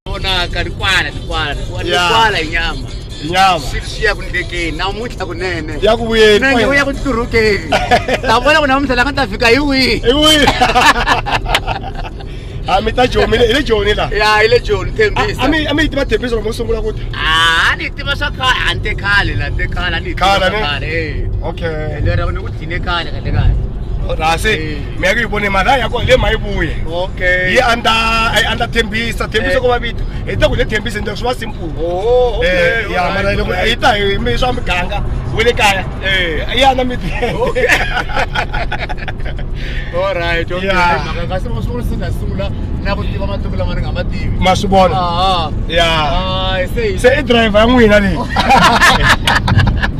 vonaka rikwala rikwala rikwala Ya. rikwala hi nyama nyama swi ya ku ndlekeni namuntlha kunene ya ku vuyeni nenge u ya ku turhukeni ta vona ku namuntlha la nga ta fika hi wihi iwi ha mi ta joni hi le joni la ya hi le joni thembisa a mi a mi yi tiva thembisa loko mo sungula ku ta Ah, ni tiva swa khale a ni te khale la te khale a ni Khale, ne? khale okay lero ni ku hi le kaya ka le kaya rase mi ya ku yi vone mali a ya kona le ma yi vuye yi andla a yi andla thembisa thembisa ko va vito hi ta ku le thembisa ni ta swi va simple ya mara loko yi ta hi mi swa miganga we le kaya yi andla mi Alright, okay. Yeah. Maka kasi mo sungula sa nasula na ku tiva matuku lama ni nga ma tivi. Ma swi vona. Ah. Yeah. Ah, se se i driver n'wina leyi.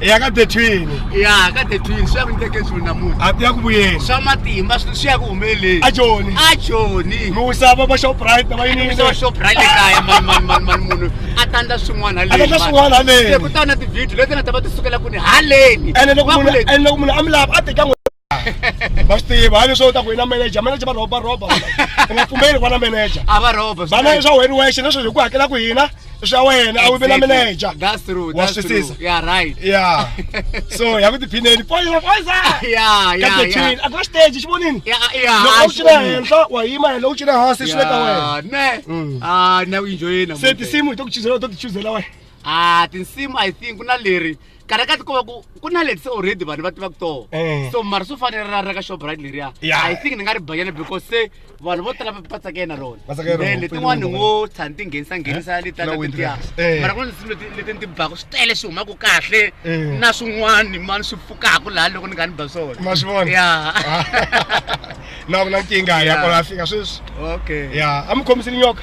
ya ka detwini ya ka detwini swi ya ku nyiteke swilo namuntlha a ya ku vuyeni swa matimba swi ya ku humeleleni a joni a joni mi wisa va va shoprite va yini va shoprite le kaya mani mani mani mani munhu a tandla swin'wana haleni a tandla swin'wana haleni ku ta na ti-video leti nga ta va ti sukela ku ni haleni ene loko munhu ene loko munhu a mi lava a teka va swi tiva hayi leswi u ta ku i na manager manager va rhoba rhoba u nga pfumeli ku va na manager a va rhoba vana i swa wena wexe leswi hi ku hakela ku hina i swa wena a wu ve na manager wa swisisa ya so ya ku tiphineni poisa poisa katetin a ku na stage xi vonini loko u cina henhla wa yima henhla u cina hansi swi le ka wena ne mm. ah, se tinsimu hi to ku chuzela u to ti chuzela wena a ah, tinsimu i think ku na leri kana ka tikova ku ku na leti se already vanhu va tivaka toho Eh. so mara swo fanele ra ra ka shoprite leriya Yeah. i think ni nga ri banyana because se vanhu vo tala va va tsakele na rona Va tsakela rona, Then letin'wani pele ngo tshani ti nghenisa nghenisa Eh? leta Na letiya windress. Eh. mara ku na tinsimu leti leti ni ti baka swi tele swi humaka kahle Eh. na swin'wani mani swi pfukaka laha loko ni nga ni ba swona ma swi vona ya na ku na nkingha ya Yeah. kona a fika sweswi okay ya a mi khomisile nyoka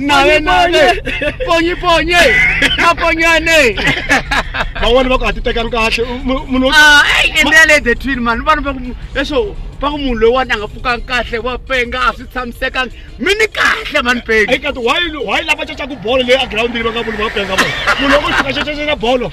nawe nawe ponyi ponye maponyane van'wani va ku ha ti tekanga kahle munhu ah, endele the twin man vanhu va ku leswo va ku munhu loyiwani a nga pfukanga kahle wa penga a swi tshamisekanga mi ni kahle mani penga eka ti why why lava cacaku bolo leyi a girawundini va nga vuli va penga vona munhu loko xikacacacela bolo